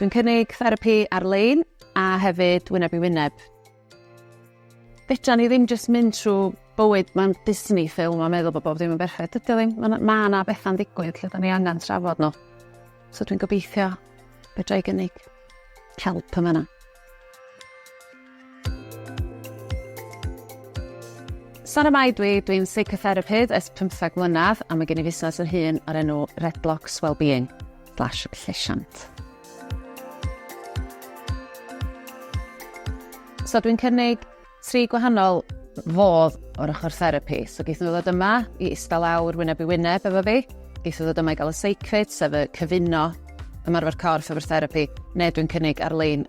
Dwi'n cynnig therapi ar-lein a hefyd wyneb i wyneb. Fedra ni ddim jyst mynd trwy bywyd, mae'n Disney ffilm a meddwl bod bob ddim yn berffaith. Dydy o ddim, mae ma yna bethau'n digwydd lle da ni angen trafod nhw. So dwi'n gobeithio fedra i gynnig help yma yna. Sara Mai dwi, dwi'n psychotherapydd ers 15 mlynedd a mae gen i fusnes yr hun o'r enw Red Blocks Wellbeing slash llesiant. So dwi'n cynnig Tri gwahanol fodd o'r ochr therapi. So geith nhw ddod yma i ista lawr wyneb i wyneb efo fi. Geith nhw ddod yma i gael y seicfyd, sef y cyfuno ymarfer corff efo'r therapi, neu dwi'n cynnig ar-lein.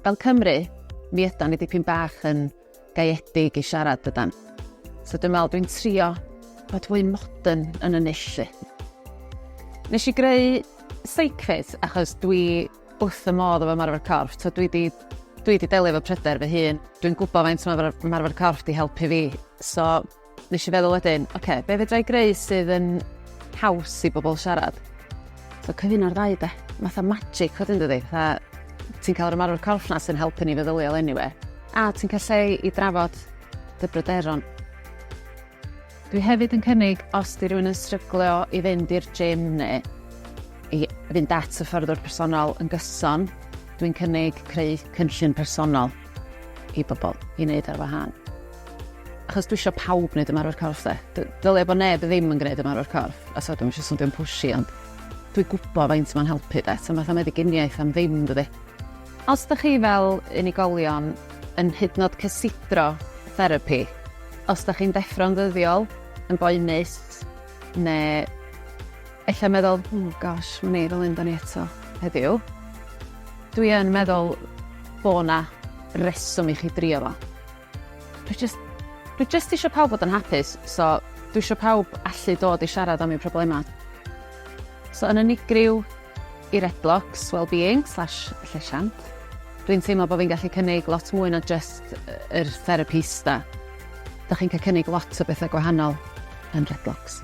Fel Cymru, mi ydan ni dipyn bach yn gaeedig i siarad dydan. So dwi'n meddwl dwi'n trio bod fwy modern yn y nillu. Nes i greu seicfyd achos dwi wrth y modd efo ymarfer corff. So dwi di, dwi di delio efo pryder fy hun. Dwi'n gwybod faint mae ymarfer corff di helpu fi. So nes i feddwl wedyn, oce, okay, be fedra i greu sydd yn haws i bobl siarad? So cyfyn o'r ddau de. Fatha magic wedyn dydi. Fatha ti'n cael yr ymarfer corff na sy'n helpu ni feddyliol anyway. A ti'n cael lle i drafod dy bryderon. Dwi hefyd yn cynnig os di rhywun yn stryglio i fynd i'r gym neu i fynd at y hyfforddwr personol yn gyson, dwi'n cynnig creu cynllun personol i bobl i wneud ar wahân. Achos dwi eisiau pawb wneud ymarfer corff de. D- Dylia bod neb ddim yn gwneud ymarfer corff, a so dwi'n eisiau swnio'n pushy ond dwi'n gwybod faint mae'n helpu de. So fatha meddyginiaeth am ddim dydy. Os dych chi fel unigolion yn hydnod cysidro therapi, os dych chi'n deffro'n ddyddiol, yn boenus, neu ella'n meddwl, oh gosh, ma ni fel un da ni eto heddiw, dwi yn meddwl bo na reswm i chi drio fo. Dwi jyst, dwi jyst isio pawb fod yn hapus, so dwi isio pawb allu dod i siarad am eu problemau. So yn unigryw, i Redblocks Wellbeing slash llesiant. Dwi'n teimlo bod fi'n gallu cynnig lot mwy na jyst yr therapista. Dych chi'n cael cynnig lot o bethau gwahanol yn Redblocks.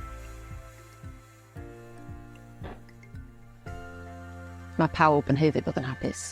Mae pawb yn haeddu bod yn hapus.